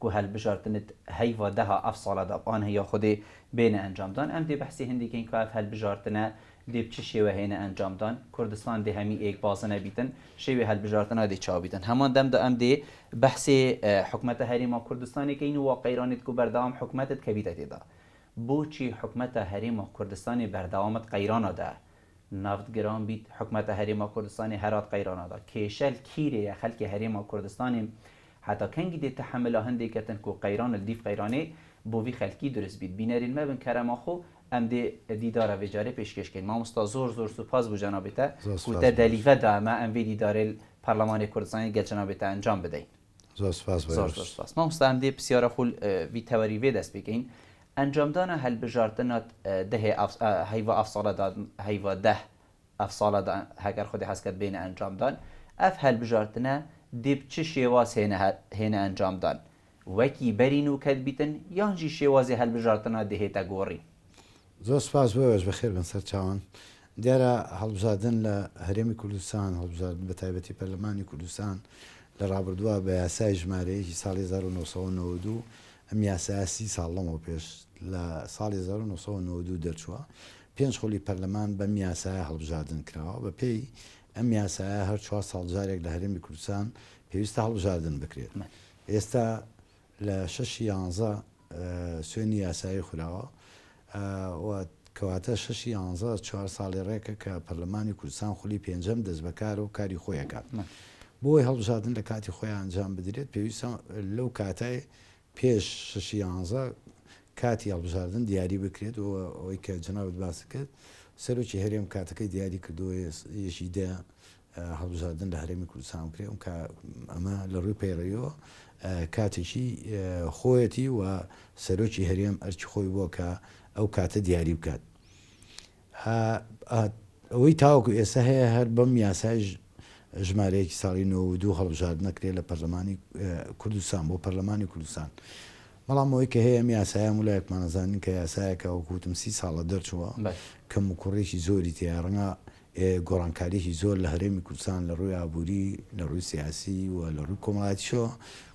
کو هەلبژاردنت هەیڤا دەها ئەف ساڵە داب ئان هەیە خودێ بێنە ئەنجام دان ئەم دێ بەحسی هندی کەین کو ئەف هەلبژاردنە دێ بچ شێوە هێنە ئەنجام دان کوردستان دێ هەمی ئێک بازنە بیتن شێوێ هەلبژاردنا دێ چاو بیتن هەمان دەم دا ئەم دێ بەحسێ حکومەتە هەرێما کوردستانێ کەین و واقعیرانێت کو بەردەوام حکومەتت کەبیتە تێدا بۆچی حکومەتە هەرێما کوردستانێ بەردەوامت قەیرانا دە نەفت گران بیت حکومەتە هەرێما کوردستانێ هەرات قەیرانا دا کێشەل کیرێ یە خەلکێ هەرێما کوردستانێ هەتا کەنگی دێ تەحەملا هندێ کەتن کو قەیرانل دیف قەیرانێ بۆ ڤی خەلکی دورست بیت بینەرین مەبن کەرەما خو ئەم دێ دیدارە ڤێجارێ پێشکێش کەین ماموستا زۆر زۆر سوپاس بو جەنابێتە کو تە دەلیڤە دا ئەمە ئەم ڤێ دیدارەێل پەرلەمانێ کوردستانێ گەل جەنابێتە ئەنجام بدەین. زۆر سوپاس بەرێز. زۆر زۆر سوپاس مامۆستا ئەمدێ پسیارە خول ڤی تەوەری ڤێ دەست پیکەین ئەنجامدانە هەلبژاردنەت دهێ ئاف هەیڤا ئاف ساڵە داد هەیڤا دە ئەف ساڵە دان هەگەر خودێ هەس کەت بێنە ئەنجامدان ئەف هەلبژاردنە دێب چ شێواز هێنە هە هێنە ئەنجامدان وەکی بەرین و کەت بیتن یان ژی شێوازێ هەلبژاردنە دهێتە گۆڕین؟ زۆر سوپاس بۆ ئێوەش بەخێربێن سەرچاوان. دیارە هەڵبژاردن لە هەرێمی کوردستان، هەڵبژاردن بە تایبەتی پەرلەمانی کوردستان لە ڕابردووە بە یاسای ژمارەیەکی ساڵی هەزار و نۆ سەد و نەوەد و دوو، ئەم یاسایە سی ساڵ لەمەو پێش لە ساڵی هەزار و نۆ سەد و نەوەد و دوو دەرچووە، پێنج خولی پەرلەمان بەم یاسایە هەڵبژاردن کراوە، بەپێی ئەم یاسایە هەر چوار ساڵ جارێک لە هەرێمی کوردستان پێویستە هەڵبژاردن بکرێت. ئێستا لە شەشی یانزە سوێنی یاسایی خوراوە و کەواتە شەشی یانزە چوار ساڵی ڕێکە کە پەرلەمانی کوردستان خولی پێنجەم دەستبەکارە و کاری خۆی ئەکات. بۆ ئەوەی هەڵبژاردن لە کاتی خۆی ئەنجام بدرێت پێویستە لەو کاتەی پێش شەشی یانزە کاتی هەڵبژاردن دیاری بکرێت و ئەوەی کە جەنابت باست کرد سەرۆکی هەرێم کاتەکەی دیاری کردووە یەکی دە هەڵبژاردن لە هەرێمی کوردستان بکرێ، ئونکا ئەمە لە ڕووی پەیڕەویەوە کاتێکی خۆیەتی و سەرۆکی هەرێم ئەرکی خۆی بووە کە ئەو کاتە دیاری بکات. ئەوەی تاوەکو ئێستا هەیە هەر بەم یاسایەش ژمارەیەکی ساڵی نۆ و دوو هەڵبژاردنە کرێ لە پەرلەمانی کوردستان بۆ پەرلەمانی کوردستان. بەڵام ئەوەی کە هەیە ئەم یاسایە هەموو لایەکمان ئەزانین کە یاسایەکە وەکو وتم سی ساڵە دەرچووە، کەموکوڕیی زۆری تێیە، ڕەنگە گۆڕانکاریەکی زۆر لە هەرێمی کوردستان لە ڕووی ئابووری، لە ڕووی سیاسی و لە ڕووی کۆمەڵایەتیشەوە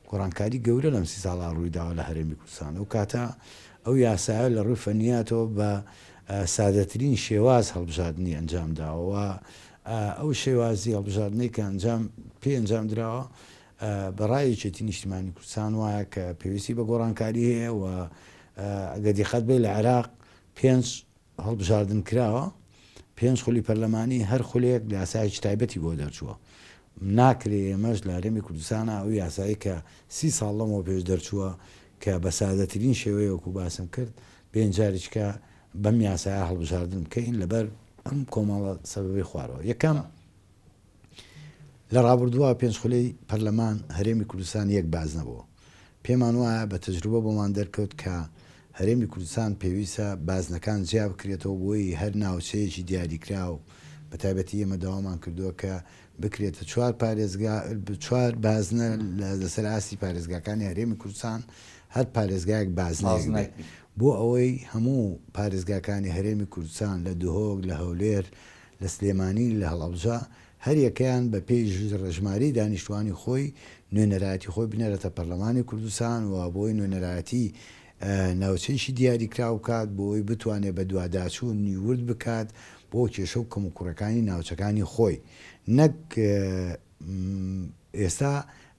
گۆڕانکاری گەورە لەم سی ساڵە ڕووی داوە لە هەرێمی کوردستان. ئەو کاتە ئەو یاسایە لە ڕووی فەنیاتەوە بە سادەترین شێواز هەڵبژاردنی ئەنجام داوە و ئەو شێوازی هەڵبژاردنەی کە ئەنجام پێی ئەنجام دراوە بە ڕای یەکێتی نیشتیمانی کوردستان وایە کە پێویستی بە گۆڕانکاری هەیە و ئەگەر دیقەت بێ لە عێراق پێنج هەڵبژاردن کراوە، پێنج خولی پەرلەمانی، هەر خولێک یاسایەکی تایبەتی بۆ دەرچووە، ناکرێ ئێمەش لە هەرێمی کوردستانا ئەو یاسایەی کە سی ساڵ لەمەوە پێش دەرچووە کە بە سادەترین شێوەیە وەکوو باسم کرد بێین جاریچکە بەم یاسایە هەڵبژاردن بکەین لەبەر ئەم کۆمەڵە سەبەبەی خوارەوە، یەکەم. لە ڕابردووە پێنج خولەی پەرلەمان هەرێمی کوردستان یەک بازنە بووە. پێمان وایە بە تەجروبە بۆمان دەرکەوت کە هەرێمی کوردستان پێویستە بازنەکان جیا بکرێتەوە بۆی هەر ناوچەیەکی دیاریکراو بە تایبەتی ئێمە داوامان کردووە کە بکرێتە چوار پارێزگا چوار بازنە لەسەر ئاستی پارێزگاکانی هەرێمی کوردستان هەر پارێزگایەک بازنەیەک بێت بۆ ئەوەی هەموو پارێزگاکانی هەرێمی کوردستان لە دهۆک لە هەولێر لە سلێمانی، لە هەڵەبجە، هەریەکەیان بە پێی ژرەژماری دانیشتوانی خۆی نوێنەرایەتی خۆی بنێرێتە پەرلەمانی کوردستان و بۆی نوێنەرایەتی ناوچەیشی دیاریکراو بکات بۆی بتوانێت بەدواداچوون ی ورد بکات بۆ کێشە و کەموکوڕەکانی ناوچەکانی خۆی نەک ئێستا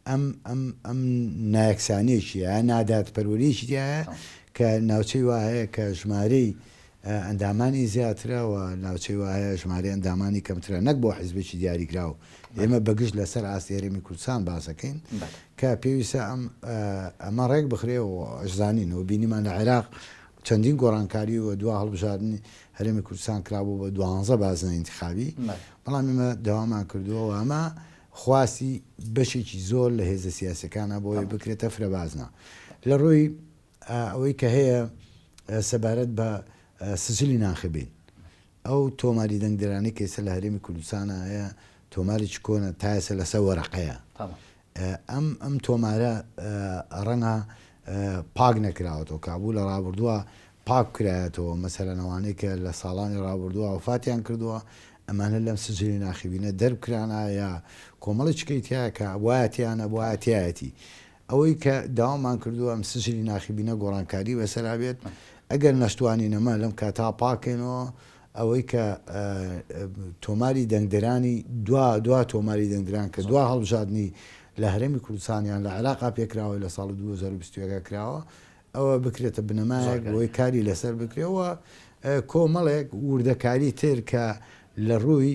ئەم ئەم ئەم نایەکسانیەکیە نادادپەروەریەکی تیایە کە ناوچەی وا هەیە کە ژمارەی ئەندامانی زیاترە و ناوچەی وا هەیە ژمارەی ئەندامانی کەمترە نەک بۆ حیزبێکی دیاریکراو ئێمە بە گشت لەسەر ئاستی هەرێمی کوردستان باس دەکەین کە پێویستە ئەم ئەمە ڕێک بخرێ و ئەشزانین و بینیمان لە عێراق چەندین گۆڕانکاری و دوا هەڵبژاردنی هەرێمی کوردستان کرابوو بە دوانزە بازنەی ئینتیخابی، بەڵام ئێمە داوامان کردووە و ئەمە خواستی بەشێکی زۆر لە هێزە سیاسییەکانە بۆ ئەوەی بکرێتە فرەبازنە لە ڕووی ئەوەی کە هەیە سەبارەت بە سجلی ناخبین. ئەو تۆماری دەنگدەرانەی کە ئێستا لە هەرێمی کوردستانە هەیە تۆمارێکی کۆنە، تا ئێستا لەسەر وەرەقەیە. ئەم ئەم تۆمارە ڕەنگە پاک نەکراوەتەوە، کابوو لە ڕابردووە پاک کرایەتەوە، مەسەلەن ئەوانەی کە لە ساڵانی ڕابردووە وەفاتیان کردووە، ئەمانە لەم سجلی ناخیبینە دەربکرانایە، کۆمەڵی چکەی تیایە کە وایە تیا نەبوایە تیایەتی. ئەوەی کە داوامان کردووە ئەم سجلی ناخیبینە گۆڕانکاری بەسەرا بێت، ئەگەر نەشتوانین ئەمە لەم کاتا پاک کەینەوە، ئەوەی کە تۆماری دەنگدەرانی دوا دوا تۆماری دەنگدران کە دوا هەڵبژاردنی لە هەرێمی کوردستان یان لە عێراقا پێکراوە لە ساڵی دوو هەزار و بیست و یەک کراوە، ئەوە بکرێتە بنەمایەک زۆر بۆی کاری لەسەر بکرێ و کۆمەڵێک وردەکاری تر کە لە ڕووی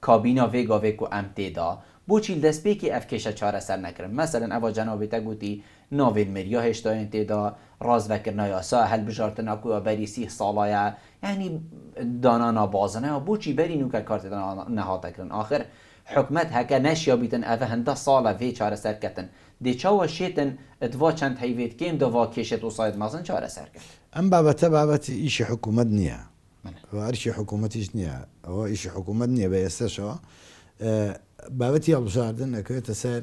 کابینا ڤێگا ڤێ کو ئەم تێ دا بۆچی دەستپێکی ئەڤ کێشە چارەسەر نەکرن مەسەلەن ئەڤا جەنابێتە گوتی ناڤێن مێریا هێشتاێن تێ دا راز ڤەکرنا یاسا هەلبژارتنا کو یا بەری سیه ساڵایا یانی دانا نا بازنەیا بۆچی بەری نوکە کار تێ دا نەهاتە کرن ئاخر حکومەت هەکە نەشیابیتن ئەڤ هندە ساڵە ڤێ چارەسەر کەتن دێ چاوە شێتن دڤا چەند هەیڤێت کێم دا ڤا کێشێت وساێت مەزن چارەسەر کەن. ئەم بابەتە بابەت ئیشی حکومەت نیە. ئەوە ئەرکی حکوومەتیش نییە، ئەوە ئیشی حکوومەت نییە بە ئێستەشەوە. بابەتی هەڵبژاردن ئەکەوێتە سەر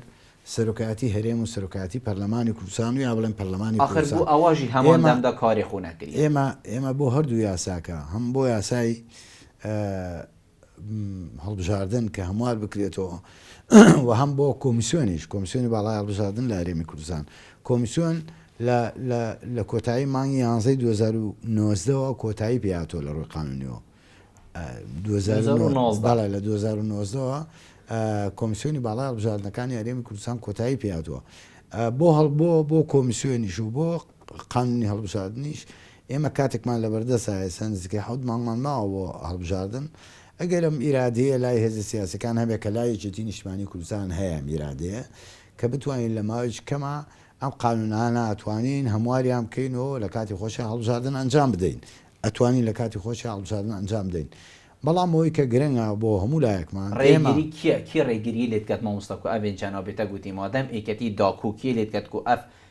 سەرۆکایەتی هەرێم و سەرۆکایەتی پەرلەمانی کوردستان و یا بڵێم پەرلەمانی کوردستان. ئاخر بۆ ئاواژی هەمان دەمدا کاری خۆ نەکریە. ئێمە بۆ هەردوو یاساکە، هەم بۆ یاسای هەڵبژاردن کە هەموار بکرێتەوە و هەم بۆ کۆمیسیۆنیش کۆمیسیۆنی باڵای هەڵبژاردن لە هەرێمی کوردستان کۆمیسیۆن لە کۆتایی مانگی یانزەی 2009ەوە کۆتایی پێاتۆ لە ڕووی قانونیەوە لە 2009ەوە کۆمیسیۆنی باڵای هەڵبژاردنەکانی هەرێمی کوردستان کۆتایی پێاتوە بۆ هەڵبووە بۆ کۆمیسیۆنیش و بۆ قانونی هەڵبژاردنیش ئێمە کاتێکمان لەبەردەستە، ئێستا نزیکەی حەوت مانگمان ماوە بۆ هەڵبژاردن، ئەگەر ئەم ئیرادەیە لای هێزە سیاسیەکان هەبێت کە لای یەکێتی نیشتمانی کوردستان هەیە ئەم ئیرادەیە کە بتوانین لە ماوەیەکی کەما ئەم قانونانە ئەتوانین هەمواریان بکەین و لە کاتی خۆشیا هەڵبژاردن ئەنجام بدەین ئەتوانین لە کاتی خۆشیا هەڵبژاردن ئەنجام بدەین بەڵام ئەوەی کە گرنگە بۆ هەموو لایەکمان ئێمە. ڕێگری کیە کێ ڕێگری لێت کات مامۆستا کو ئەڤێن جان ئەو بێتە گوتیمەوە دەم ئێکەتی داکو کێ لێت کات کو ئەف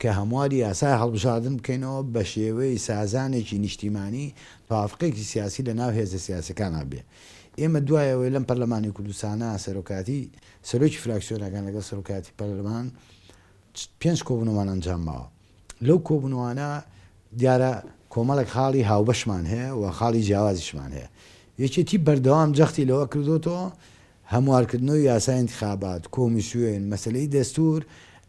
کە هەمواری یاسای هەڵبژاردن بکەینەوە بە شێوەی سازانێکی نیشتیمانی، تەوافقێکی سیاسی لە ناو هێزە سیاسیەکانا بێ. ئێمە دوای ئەوەی لەم پەرلەمانی کوردستانا سەرۆکاتی، سەرۆکی فراکسیۆنەکان لەگەڵ سەرۆکایەتی پەرلەمان پێنج کۆبوونەوەمان ئەنجام ماوە. لەو کۆبوونەوانە دیارە کۆمەڵێک خاڵی هاوبەشمان هەیە و خاڵی جیاوازیشمان هەیە. یەکێتی بەردەوام جەختی لەوە کردۆتەوە هەموارکردنەوەی یاسای ئینتخابات، کۆمیسیۆن، مەسەلەی دەستوور،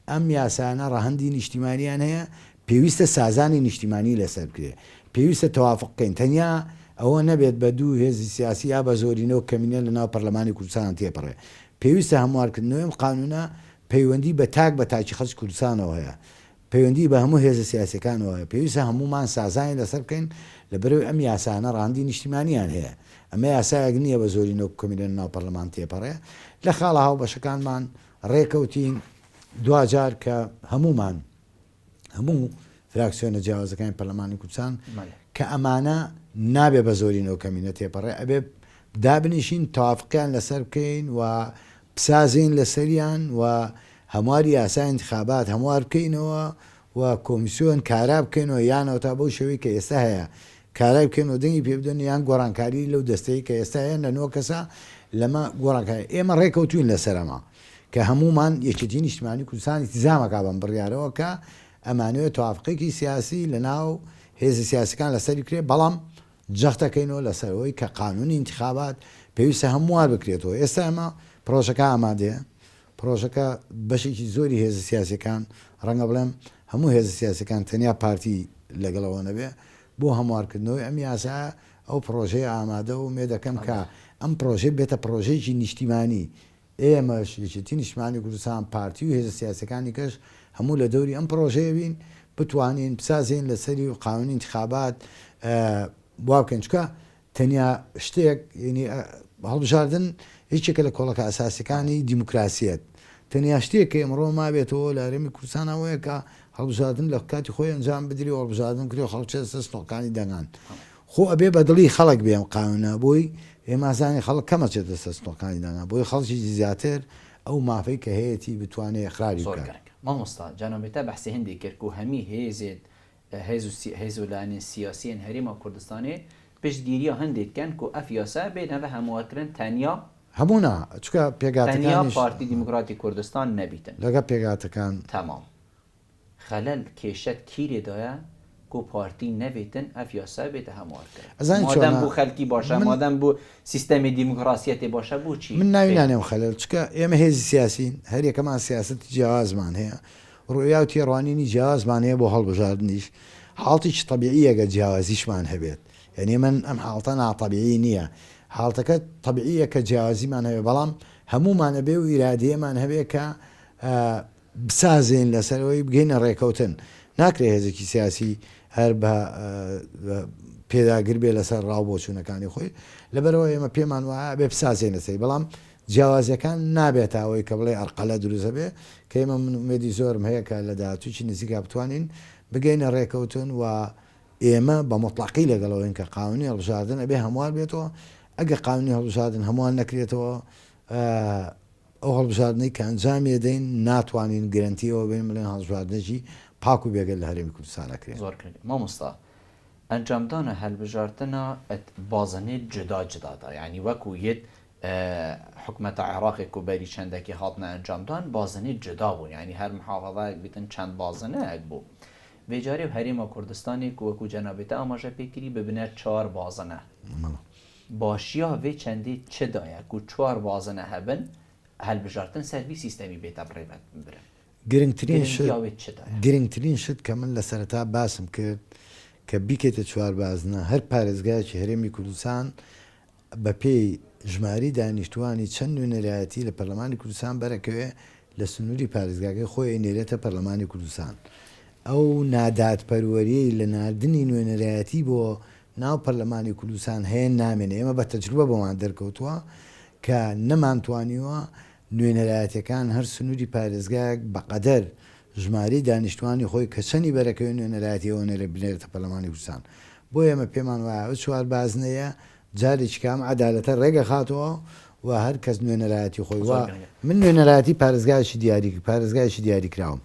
ئەم یاسانە ڕەهەندی نیشتیمانیان هەیە، پێویستە سازانی نیشتیمانی لەسەر بکرێت. پێویستە تەوافق بکەین، تەنیا ئەوە نەبێت بە دوو هێزی سیاسی یا بە زۆرینە و کەمینە لە ناو پەرلەمانی کوردستانەوە تێپەڕێت. پێویستە هەموارکردنەوەی ئەم قانوونە پەیوەندی بە تاک بە تاکی خەڵکی کوردستانەوە هەیە. پەیوەندیی بە هەموو هێزە سیاسییەکانەوە هەیە. پێویستە هەموومان سازانی لەسەر بکەین، لەبەرئەوەی ئەم یاسایانە ڕەهەندی نیشتیمانییان هەیە. ئەمە یاسایەک نییە بە زۆرینە وەکو کەمینە ناو پەرلەمان تێپەڕێ. لە خاڵە هاوبەشەکانمان ڕێکەوتین، دواجار کە هەموومان، هەموو فراکسیۆنە جیاوازەکانی پەرلەمانی کوردستان، کە ئەمانە نابێ بە زۆرینە و کەمینە تێپەڕێ، ئەبێ دابنیشین، تەوافقیان لەسەر بکەین و بسازێین لەسەریان و هەموار یاسای ئینتخابات هەموار بکەینەوە و کۆمیسیۆن کارا بکەینەوە یانەوە تا بەو شێوەی کە ئێستا هەیە کارای بکەین و دەنگی پێ بدەن یان گۆڕانکاری لەو دەستەی کە ئێستا هەیە لە نۆ کەسە لەمە گۆڕانکاری ئێمە ڕێکەوتوین لەسەر ئەمە کە هەموومان یەکێتی نیشتمانی کوردستان ئیلتزامەکا بەم بڕیارەوە کە ئەمانەوێت تەوافقێکی سیاسی لەناو هێزە سیاسەکان لەسەری کرێت بەڵام جەختەکەینەوە لەسەرەوەی کە قانونی ئینتخابات پێویستە هەموار بکرێتەوە ئێستا ئەمە پرۆژەکە ئامادەیە پرۆژەکە بەشێکی زۆری هێزە سیاسیەکان، ڕەنگە بڵێم هەموو هێزە سیاسیەکان تەنیا پارتی لەگەڵەوە نەبێ، بۆ هەموارکردنەوەی ئەم یاسایە ئەو پرۆژەیە ئامادە و مێ دەکەن کە ئەم پرۆژەی بێتە پرۆژەیەکی نیشتیمانی. ئێمەش، یەکێتی نیشتمانی کوردستان، پارتی و هێزە سیاسیەکانی کەش هەموو لە دەوری ئەم پرۆژەیە بین، بتوانین بسازێین لەسەری و قانونی ئینتخابات وا بکەین. چونکە تەنیا شتێک یەنی هەڵبژاردن یەکێکە لە کۆڵەکە ئەساسیەکانی دیموکراسیەت، تەنیا شتێک کە ئمڕۆ مابێتەوە لە هەرێمی کوردستان ئەوەیە کە هەڵبژاردن لە کاتی خۆی ئەنجام بدری و هەڵبژاردن بکری و خەڵک چێتە سەر ستۆڵکانی دەنگان. خۆ ئەبێ بە دڵی خەڵک بێ ئەم قانوونە بۆی ئێمە ئەزانین خەڵک کەم ئەچێتە سەر ستۆڵکانی دەنگان بۆی خەڵکێکی زیاتر ئەو مافەی کە هەیەتی بتوانێ ئیقراری بکات. زۆر گرنگە مامۆستا جا نۆمیتا بەحسی هندی کرک و هەمی هێزێت هێزو لایەنە سیاسیەن هەرێما کوردستانێ پشت گیریا هەندێک کەن کو ئەف یاسا بێ نەڤە هەموار کرن تەنیا، هەموو نا چونکە تەنیا پێگاتەکانیش پارتی دیموکراتی کوردستان نەبیتن. لەگەڵ پێگاتەکان. تەمام خەلەل کێشەت کیرێ دایە کو پارتی نەبیتن ئەف یاسا بێتە هەموار کرن؟ ئەزانی مادەم چۆنە؟ بو خەلکی باشە من. مادەم بو سیستەمی دیموکراسیەتێ باشە بو چی من ناوی خەلکی. نانێم خەلەل چونکە ئێمە هێزی سیاسین هەر یەکەمان سیاسەتی جیاوازمان هەیە ڕوئیا و تێڕوانینی جیاوازمان هەیە بۆ هەڵبژاردنیش حاڵتێکی تەبیعیە گەر جیاوازیشمان هەبێت یانی ئەمن ئەم حاڵتە ناتەبیعی نیە حاڵتەکە تەبیعیە کە جیاوازیمان هەبێت بەڵام هەموومان ئەبێ ئەو ئیرادەیەمان هەبێ کە بسازێن لەسەرەوەی بگەینە ڕێکەوتن ناکرێ هێزێکی سیاسی هەر بە پێداگر بێ لەسەر ڕاو بۆچوونەکانی خۆی لەبەرەوە ئێمە پێمان وایە ئەبێ بسازێنە سەری بەڵام جیاوازیەکان نابێتە ئەوەی کە بڵێی ئەرقەلە دروست دەبێت، کە ئێمە من ئومێدی زۆرم هەیە کە لە داهاتوویەکی نزیکا بتوانین بگەینە ڕێکەوتن و ئێمە بە موتڵەقی لەگەڵ ئەوەین کە قانونی هەڵبژاردن ئەبێ هەموار بێتەوە، ئەگەر قانونی هەڵبژاردن هەموار نەکرێتەوە ئەو هەڵبژاردنەی کە ئەنجامی ئەدەین ناتوانین گرەنتی ئەوە بین بڵێن هەڵبژاردنێکی پاک و بێگەرد لە هەرێمی کوردستان ئەکرێ. زۆر گرنگە مامۆستا ئەنجامدانە هەلبژاردنە ئەت بازنەی جودا جودادا یانی وەکو یەت حکومەتە عێڕاقێک و بەری چەندەکی هاتنە ئەنجام دان بازنەی جودا بوو یانی هەر محافەزایەک بیتن چەند بازنەیەک بوو بێ جاری و هەرێمە کوردستانێک وەکوو جەنابی تە ئاماژە پێ کری ببنە چوار بازنە باشیا ڤێ چەندی چ دایە کوو چوار بازنە هەبن هەلبژارتن سەر ڤی سیستەمی بێتە بڕێ برن گرنگترین شت گرنگیاوێ چ دایە؟ گرنگترین شت کە من لە سەرەتا باسم کرد کە بیکەیتە چوار بازنە هەر پارێزگایەکی هەرێمی کوردستان بەپێی ژماری دانیشتووانی چەند نوێنەرایەتی لە پەرلەمانی کوردستان بەرەکەوێ لە سنووری پارێزگاکەی خۆی ئەینێرێتە پەرلەمانی کوردستان ئەو نادادپەروەریەی لە ناردنی نوێنەرایەتی بۆ ناو پەرلەمانی کوردستان هەیە نامێنێ ئێمە بە تەجروبە بۆمان دەرکەوتووە کە نەمانتوانیوە نوێنەرایەتەکان هەر سنووری پارێزگایەک بەقەدەر ژمارەی دانیشتوانی خۆی کە چەنی بەرەکەوی نوێنەرایەتی ئەوە نەرێ بنێرێتە پەرلەمانی کوردستان بۆ ئێمە پێمان وایە ئەو چوار بازنەیە جارێکی کە ئەم عەدالەتە رێگەخاتەوە و هەر کەس نوێنەرایەتی خۆی وا من نوێنەرایەتی پارێزگایەکی دیاری پارێزگایەکی دیاری کراوم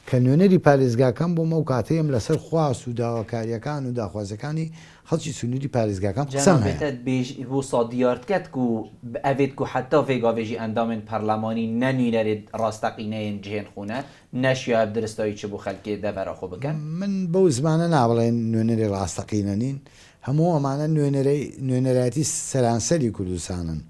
کە نوێنەری پارێزگاکەم بووم ئەو کاتەی ئەم لەسەر خواست و داواکاریەکان و داخوازیەکانی خەڵکی سنووری پارێزگاکان قسەم هەیە. جەنابتەت بێژ وسا دیارتکەت کو بئەێت کو حەتا ڤێ گاڤێژی ئەندامێن پەرلەمانی نە نوینەرێد راستەقینەێن جهێن خونە، نە شیاێت درستایی چ بو خەلکێ دە ڤەرا خو بکەن. من بەو زمانە نابڵێن نوێنەری راستەقینە نین، هەموو ئەمانە نوێنەرایەتی سەرانسەری کوردستانن،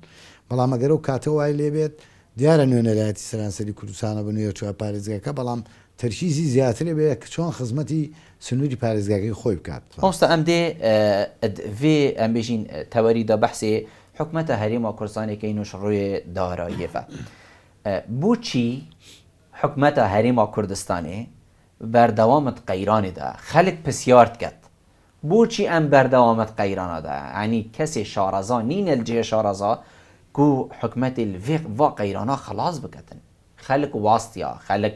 بەڵام ئەگەر ئەو کاتە وای لێبێت دیارە نوێنەرایەتی سەرانسەری کوردستانە بە نوێچووە پارێزگاکە، بەڵام تەرکیزی زیاتر ئەبێ کە چۆن خزمەتی سنووری پارێزگاکەی خۆی بکات. مامۆستا ئەم دێ ئەد ڤێ ئەم بێژین تەوەری دا بەحسێ حکومەتا هەرێم و کوردستانێ کەین و شڕوێ داراییەڤە. بۆچی حکومەتا هەرێم و کوردستانێ بەردەوامد قەیرانێ دا خەلک پسیارد کەد بۆچی ئەم بەردەوامەت قەیرانە دا یانی کەسێ شارەزا نینە لجێ شارەزا کو حکومەتێ لڤێق ڤا قەیرانا خەڵاس بکەتن خەلک واستیا خەلک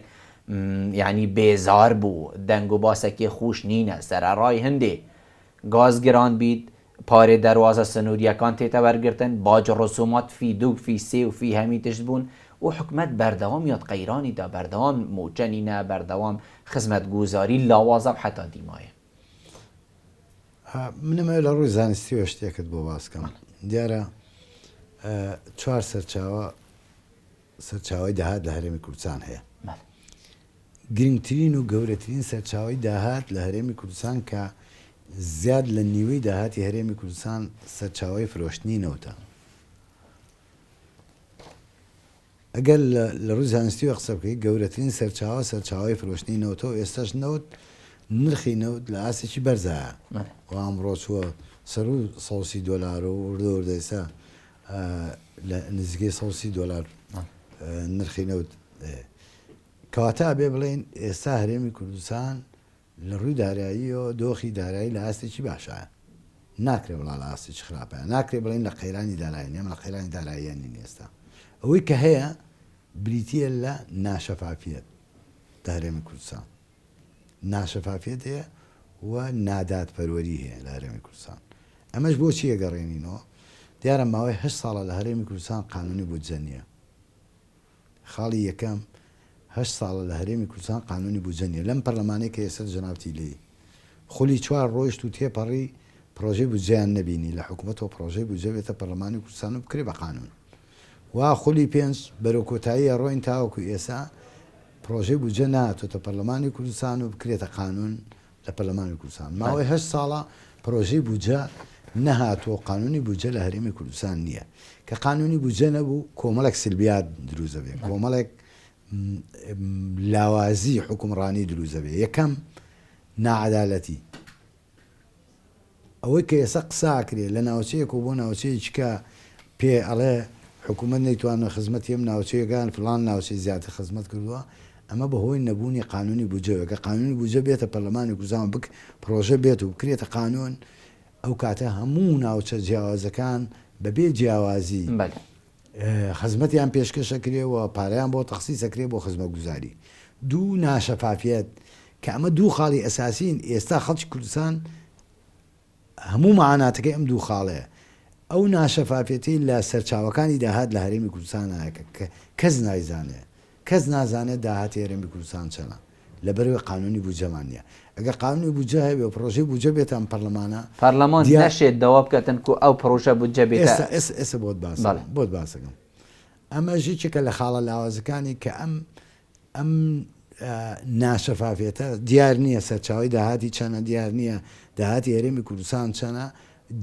یانی بێزار بو دەنگ و باسەکێ خوش نینە سەرەڕای هندێ گاز گران بیت پارێ دەروازە سنوریەکان تێتە وەرگرتن باج رسومات فی دوگ فی سێ و فی هەمی تشت بون و حکومەت بەردەوام یاد قەیرانی دا بەردەوام موچە نینە بەردەوام خزمەت گوزاری لاوازە و حەتا دیمایە منم ئەوێ لە ڕووی زانستیەوە شتێکت بۆ باس کەم دیارە چوار سەرچاوە سەرچاوی داهات لە هەرێمی کوردستان هەیە گرنگترین و گەورەترین سەرچاوی داهات لە هەرێمی کوردستان کە زیاد لە نیوەی داهاتی هەرێمی کوردستان سەرچاوی فرۆشتنی نەوتە ئەگەر لە ڕووی زانستییەوە قسە بکەیت، گەورەترین سەرچاوە، سەرچاوەی فرۆشتنی نەوتە و ئێستاش نەوت، نرخی نەوت لە ئاستێکی بەرزایە و ئەمڕۆ چووە سەروو سەد و سی دۆلار و وردە وردە ئێستا لە نزیکەی سەد و سی دۆلار نرخی نەوت هەیە. کەواتە ئەبێ بڵێین ئێستا هەرێمی کوردستان لە ڕووی داراییەوە دۆخی دارایی لە ئاستێکی باشایە. ناکرێ بڵا لە ئاستێکی خراپایە. ناکرێ بڵێین لە قەیرانی داراین، ئێمە لە قەیرانی داراییە نین ئێستا. ئەوەی کە هەیە بریتییە لە ناشەفافییەت لە هەرێمی کوردستان. ناشەفافییەت هەیە و نادادپەروەری هەیە لە هەرێمی کوردستان. ئەمەش بۆ چی ئەگەڕێنینەوە؟ دیارە ماوەی هەشت ساڵە لە هەرێمی کوردستان قانوونی بودجە نییە. خاڵی یەکەم، هەشت ساڵە لە هەرێمی کوردستان قانوونی بودجە نییە، لەم پەرلەمانەی کە ئێستا جەنابتی لێی، خولی چوار ڕۆیشت و تێپەڕی پڕۆژەی بودجەیان نەبینی لە حکومەتەوە پڕۆژەی بودجە بێتە پەرلەمانی کوردستان و بکرێ بە قانوون و خولی پێنج بەرەو کۆتایی ئەڕۆین تاوەکو ئێستا پڕۆژەی بودجە نەهاتۆتە پەرلەمانی کوردستان و بکرێتە قانوون لە پەرلەمانی کوردستان ماوەی هەشت ساڵە پرۆژەی بودجە نەهاتووە و قانوونی بودجە لە هەرێمی کوردستان نییە. کە قانوونی بودجە نەبوو، کۆمەڵێک سلبیات دروست دەبێت، کۆمەڵێک لاوازی حوکمڕانی دروست دەبێت. یەکەم، ناعەدالەتی. ئەوەی کە ئێستا قسە ئەکرێ لە ناوچەیەک و بۆ ناوچەیەکی کە پێ ئەڵێ حکومەت نەیتوانوە خزمەتی ئەم ناوچەیەکە یان فڵان ناوچەی زیاتر خزمەت کردوە ئەمە بە هۆی نەبوونی قانوونی بودجە بێ گەر قانوونی بودجە بێتە پەرلەمانی کوردستان و بک پڕۆژە بێت و بکرێتە قانوون ئەو کاتە هەموو ناوچە جیاوازەکان بە بێ جیاوازی. بەلی خزمەتیان پێشکەش ئەکرێ و پارەیان بۆ تەخسیس ئەکرێ بۆ خزمەتگوزاری. دوو، ناشەفافیەت، کە ئەمە دوو خاڵی ئەساسین، ئێستا خەڵکی کوردستان هەموو معاناتەکەی ئەم دوو خاڵەیە، ئەو ناشەفافیەتەی لە سەرچاوەکانی داهات لە هەرێمی کوردستان هەیە کە کەس نایزانێ، کەس نازانێ داهاتی هەرێمی کوردستان چەنە. لەبەرئەوەی قانونی بودجەمان نییە. ئەگەر قانونی بودجە هەبێ و پڕۆژەی بودجە بێتە ئەم پەرلەمانە، پەرلەمان دیار. نەشێت داوا بکات تەنکو ئەو پڕۆژە بودجە بێتە. ئێستا، ئێستا بۆت باس بەڵێ. دەکەم، بۆت باس دەکەم. ئەمەش یەکێکە لە خاڵە لاوازەکانی کە ئەم، ئەم ناشەفافیەتە، دیار نییە سەرچاوەی داهاتی چەنە، دیار نییە داهاتی هەرێمی کوردستان چەنە،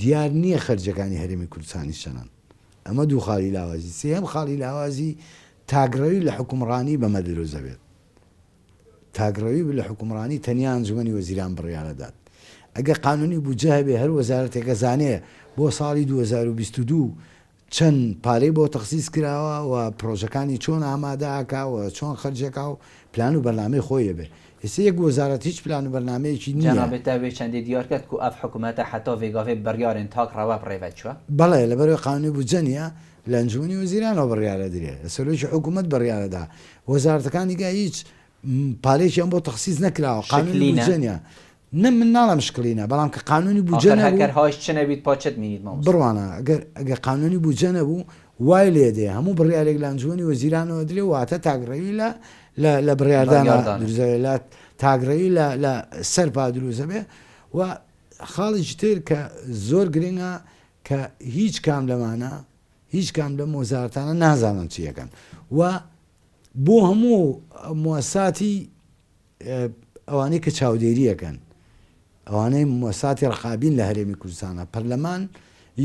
دیار نییە خەرجییەکانی هەرێمی کوردستانیش چەنەن. ئەمە دوو خاڵی لاوازی. سێیەم خاڵی لاوازی، تاکڕەوی لە حوکمڕانی بەمە دروست دەبێت. تاک ڕەوی لە حوکمڕانی تەنیا ئەنجومەنی وەزیران بڕیار ئەدات ئەگەر قانونی بودجە هەبێ هەر وەزارەتێک ئەزانێ بۆ ساڵی دوو هەزار و بیست و دوو چەن پارەی بۆ تەخسیس کراوە و پڕۆژەکانی چۆن ئامادە ئەکا و چۆن خەرج ئەکا و پلان و بەرنامەی خۆی ئەبێ ئێستا یەک وەزارەت هیچ پلان و بەرنامەیەکی نییە. جەنابت تا وێ چەندێ دیار کەت کو ئەڤ حوکمەتە حەتا ڤێگاڤێ بڕیارێن تاک ڕەوە بڕێڤە چوە؟ بەڵێ لەبەرەوەی قانونی بودجە نییە لە ئەنجومەنی وەزیرانەوە بڕیار ئەدرێ، لە سەرۆکی حکوومەت بڕیار ئەدا، وەزارەتەکان نیگا هیچ پارەیەکیان بۆ تەخسیس نەکراوە، قانوونی بودجە نییە. نە من ناڵێم شکڵینە، بەڵام کە قانوونی بودجە نەبوو. ئاخر هەر هاویش چ نەبیت پا چت مینیت مامۆستا. بڕوانە، گەر گەر قانوونی بودجە نەبوو وای لێ دێ هەموو بڕیارێک لە ئەنجومەنی وەزیرانەوە ئەدرێ واتە تاکڕەوی لە لە لە بڕیاردانە دروست دەبێ لە تاکڕەوی لە لە سەرپا دروست دەبێ و خاڵیکی تر کە زۆر گرینگە کە هیچ کام لەمانە هیچ کام لەم وەزارەتانە نازانن چی ئەکەن و بۆ هەموو موساتی ئەوانەی کە چاودێری ئەکەن ئەوانەی موساتی ڕقابین لە هەرێمی کوردستانە پەرلەمان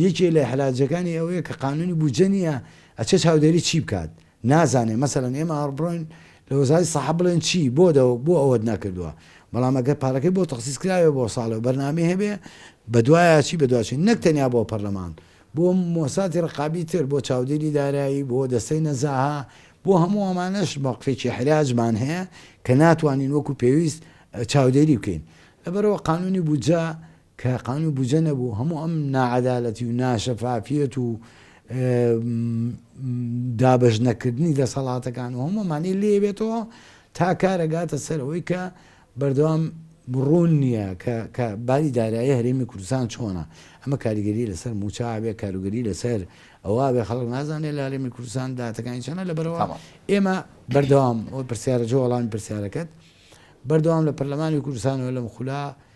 یەکێ لە حراجەکانی ئەوەیە کە قانونی بودجە نییە ئەچێ چاودێری چی بکات نازانێ مەسەلەن ئێمە ئاڕبڕۆین لە وەزارەتی سەحە بڵێن چی بۆ بۆ ئەوەت نەکردووە بەڵام ئەگەر پارەکەی بۆ تەخسیس کراوێ بۆ ساڵێ و بەرنامەی هەبێ بەدوایە چی بەدواچین نەک تەنیا بۆ پەرلەمان بۆ مۆساتی ڕقابی تر بۆ چاودێری دارایی بۆ دەستەی نەزاها بۆ هەموو ئەمانەش مەوقفێکی حراجمان هەیە کە ناتوانین وەکو پێویست چاودێری بکەین لەبەرەوە قانونی بودجە کە قانوو بودجە نەبوو هەموو ئەم ناعەدالەتی و ناشەفافیەت و دابەش نەکردنی دەسەڵاتەکان و هەموو ئەمانەی لێ بێتەوە تا کارە گاتە سەر ئەوەی کە بەردەوام ڕوون نییە کە باری دارایی هەرێمی کوردستان چۆنە ئەمە کاریگەری لەسەر موچابێ کاروگەری لەسەر ئەوە بێ خەڵک نازانێت لە هەرێمی کوردستان داتەکانی چەنە لە بەرەوە ئێمە بەردەوام پرسیارە جۆڵان پرسیارەکەت بەردەوام لە پەرلەمانی کوردستانەوە لەم خولە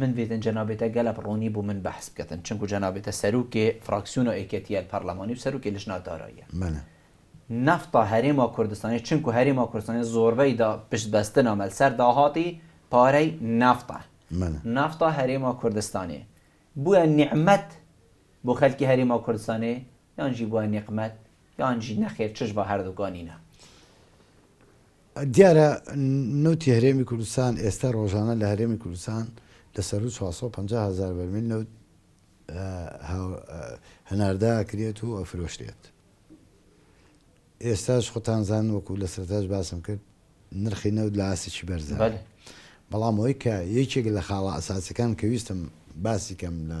من ویدن جەنابێتە گەلەپ ڕوونی بوو من بەحس بکەتن چنکو جەنابێتە سەروکێ فراکسیون و ئێکێتیەل پەرلەمانی و سەروکێ لژنا داراییە منە. نەفتا هەرێما کوردستانی چنکو هەرێما کوردستانی زۆربەی دا پشت بەستنا مەل سەر داهاتی پارەی نەفتا. منە. نەفتا هەرێما کوردستانی بویە نیعمەت بۆ خەلکی هەرێما کوردستانی یان ژی بویە نیقمەت یان ژی نەخێر چش ڤە هەردوکا نینە. دیارە نەوتی هەرێمی کوردستان ئێستا ڕۆژانە لە هەرێمی کوردستان لە سەروو چوار سەد و پەنجا هەزار بەرمیل نەوت هەناردە ئەکرێت و ئەفرۆشرێت. ئێستاش خۆتان زان وەکو لە سەرەتاش باسم کرد نرخی نەوت لە ئاستێکی بەرزە. بەلی. بەڵام ئەوەی کە یەکێک لە خاڵە ئەساسیەکان کە ویستم باسی کەم لە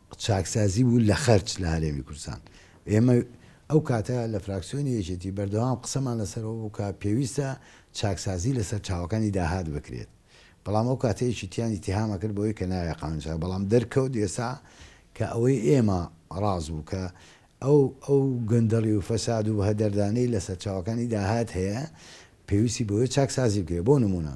چاکسازی بوو لە خەرج لە هەرێمی کوردستان. ئێمە ئەو کاتە لە فراکسیۆنی یەکێتی بەردەوام قسەمان لەسەر ئەوە بوو کە پێویستە چاکسازی لە سەرچاوەکانی داهات بکرێت. بەڵام ئەو کاتە یەکێتییان ئیتیهام ئەکرد بەوەی کە نایە قانوونی چاکسازی، بەڵام دەرکەوت ئێستا کە ئەوەی ئێمە ڕاست بوو کە ئەو ئەو گەندەڵی و فەساد و هەدەردانەی لە سەرچاوەکانی داهات هەیە پێویستی بەوەیە چاکسازی بکرێت. بۆ نموونە.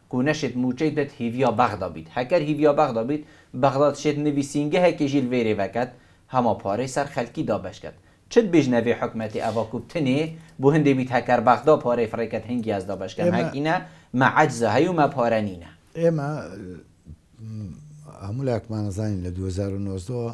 کو نەشێت مووچەی دەت هیڤیا بەغدا بیت، هەکەر هیڤیا بەغدا بیت، بەغدا دشێت نویسینگەهەکێ ژیر ڤەی رێڤە کەت، هەما پارەی سەر خەلکی دابەش کەت. چت بیژ نەڤێ حکومەتێ ئەڤا کو بتنێ، بو هندێ بیت هەکەر بەغدا پارەی فڕێ کەت هنگی ئەز دابەش کەم ئێمە هەکینە، مە عەجزە هەی و مە پارە نینە. ئێمە هەموو لایەکمان ئەزانین لە دوو هەزار و نۆزدە وە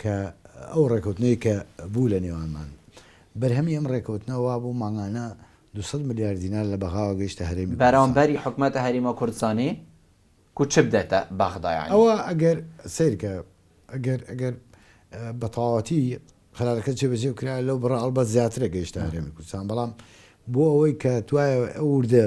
کە ئەو ڕێکەوتنەی کە بوو لە نێوانمان، بەرهەمی ئەم ڕێکەوتنە وا بوو مانگانە دوو سەد ملیار دینار لە بەغاوە گەیشتە هەرێمی کوردستان. بەرامبەری حکومەتە هەرێمە کوردستانی کو چ بدەتە بەغدا یانی؟ ئەوە ئەگەر سەیرکە ئەگەر ئەگەر بە تەواوەتی قەرارەکە جێبەجێ بکرایە لەو بڕە ئەڵبەت زیاترە گەیشتە هەرێمی کوردستان، بەڵام بۆ ئەوەی کە توایە ئەو وردە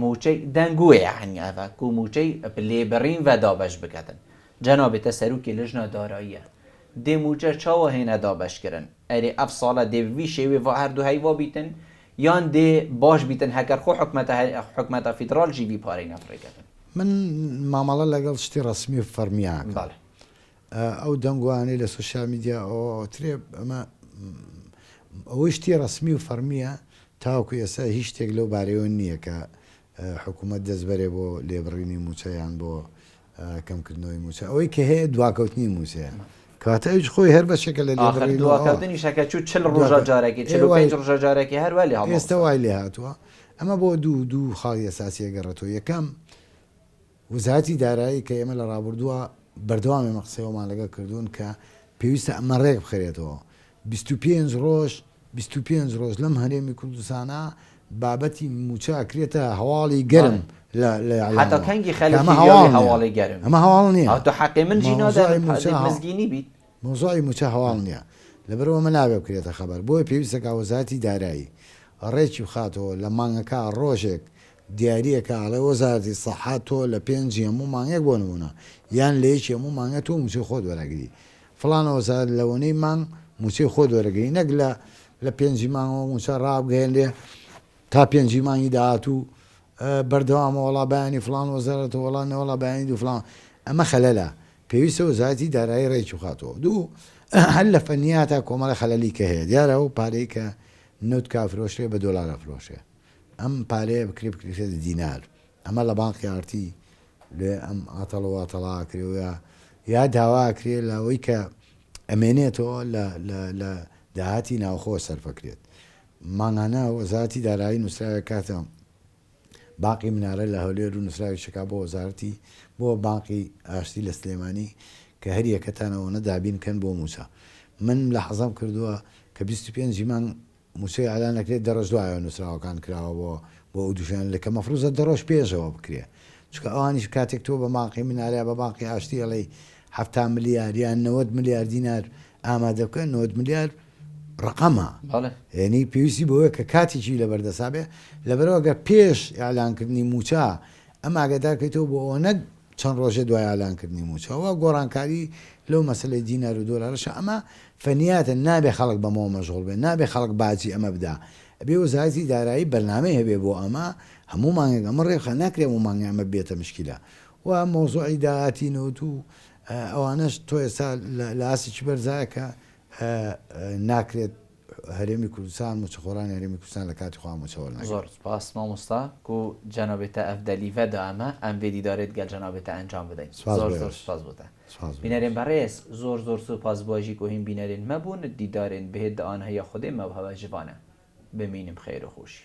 موچەی دەنگ وێ یەعنی ئەڤە کو موچەی لێ بڕین ڤە دابەش بکەتن جەنابێ تە سەروکی لژنە داراییە دێ موچە چاوە هێنە دابەش کرن ئەرێ ئەڤ ساڵە دێ ڤی شێوێ ڤە هەردوو هەیوا بیتن یان دێ باش بیتن هەکەر خۆ حکومەتە حکومەتە فیدڕاڵ ژی ڤی پارەینە فڕێ کەتن. من مامەڵە لەگەڵ شتی ڕەسمی و فەڕمی ئاکەم. بەڵێ. ئەو دەنگۆانەی لە سۆشیال میدیا ئەوترێ ئەمە ئەوەی شتی ڕەسمی و فەڕمیە تاوەکو ئێستا هیچ شتێک لەو بارەیەوە نیە کە حکومەت دەست بەرێ بۆ لێبڕینی موچە یان بۆ کەمکردنەوەی موچە ئەوەی کە هەیە دواکەوتنی موچەیە کەواتە ئەویش خۆی هەر بەشێکە لە لێبڕین ئاخر دواکەوتنی شەکە چوو چل ڕۆژە جارێکی چل و پێنج ڕۆژە جارێکی هەر وای لێ هاتووە ئێستا وای لێ هاتووە ئەمە بۆ دوو دوو خاڵی ئەساسیە گەڕێتەوە یەکەم وەزارەتی دارایی کە ئێمە لە ڕابوردووە بەردەوام ئێمە قسەی ئەومان لەگەڵ کردوون کە پێویستە ئەمە ڕێک بخرێتەوە بیست و پێنج ڕۆژ بیست و پێنج ڕۆژ لەم هەرێمی کوردستانە بابەتی مووچە ئەکرێتە هەواڵی گەرم لە لە ئیعلامەوە کە ئەمە هەواڵ نییە ئەمە هەواڵ نییە. مەوزوعی مووچە هەواڵ نییە، لەبەرئەوە ئەمە نابێت بکرێتە خەبەر، بۆیە پێویستە کە وەزارەتی دارایی ڕێکی بخاتەوە لە مانگەکە ڕۆژێک دیارییە کە ئەڵێ وەزارەتی سەحە تۆ لە پێنجی هەموو مانگێک بۆ نموونە یان لە یەکی هەموو مانگێک تۆ مووچەی خۆت وەرئەگری فڵانە وەزارەت لەوەنەی مانگ مووچەی خۆت وەرەگری نەک لە لە پێنجی مانگەوە مووچە ڕابگەیەنرێ تا پێنجی مانگی داهاتوو بەردەوامە وەڵا بەیانی فڵان وەزارەتە وەڵا نەوەڵا بەیانی دوو فڵان ئەمە خەلەلە پێویستە وەزارەتی دارایی ڕێکی بخاتەوە. دوو، هەر لە فەنیا تا کۆمەڵە خەلەلی کە هەیە، دیارە ئەو پارەی کە نەوت کا فرۆشرێ بە دۆلار ئەفرۆشێ، ئەم پارەیە بکرێ بکرێتە دینار، ئەمە لە بانقی ئارتی لێ ئەم ئاتەڵ واتەڵە ئەکرێ و یا یا داوا ئەکرێ لە ئەوەی کە ئەمێنێتەوە لە لە لە داهاتی ناوخۆوە سەرفەکرێت. مانگانە وەزارەتی دارایی نووسراوێک کاتە. باقی منارە لە هەولێر و نوسراوی شەکا بۆ وەزارەتی بۆ بانقی ئاشتی لە سلێمانی کە هەر یەکەتان ئەوەنە دابین کەن بۆ موچە من ملاحەزەم کردوە کە بیست و پێنج ی مانگ موچەی ئالان ئەکرێت دەڕۆژ دوایەوە نوسراوەکان کراوە بۆ بۆ ئەو دوژیان لە کە مەفروزە دەڕۆژ پێشەوە بکرێ چونکە ئەوانیش کاتێک تۆ بە بانقی منارە یا بە بانقی ئاشتی ئەڵێی حەفتا ملیار یان نەوەد ملیار دینار ئامادە بکەن نۆد ملیار ڕەقەمە یەنی پێویستی بەوەیە کە کاتێکی لەبەر دەسا بێ لەبەرەوە گەر پێش ئیعلان کردنی مووچە ئەم ئاگادار کەیتەوە بۆ ئەوە نەک چەند ڕۆژێ دوای ئالان کردنی مووچە وا گۆڕانکاری لەو مەسلەی دینار و دۆلارەشە ئەمە فەنیاتە نابێ خەڵک بەمەوە مەژغوڵ بێ نابێ خەڵک باجی ئەمە بدا ئەبێ وەزارەتی دارایی بەرنامەی هەبێ بۆ ئەمە هەموو مانگێک ئەمە ڕێخە ناکرێ و مانگە ئەمە بێتە مشکیلە و مۆزوعی داهاتی نەوت و ئەوانەش تۆ ئێستا لە ئاستی چی بەرزایە کە ناکرێت هەرێمی کوردستان موچەخۆرانی هەرێمی کوردستان لە کاتی خۆیان موچە وەرنەگرن. زۆر سپاس مامۆستا گو جنابت اف دلی و دائمە ام وێ دیدارێت گەل جنابت ئەنجام بدەین زۆر زۆر سپاس بۆتە بینەرێن بەڕێز زۆر زۆر سوپاس بواژی گۆهیم بینەرێن مەبوون دیدارێن بهێت دە آنهە یا خودێ مەوهەوە ژبانە بمینم خێر و خوشی.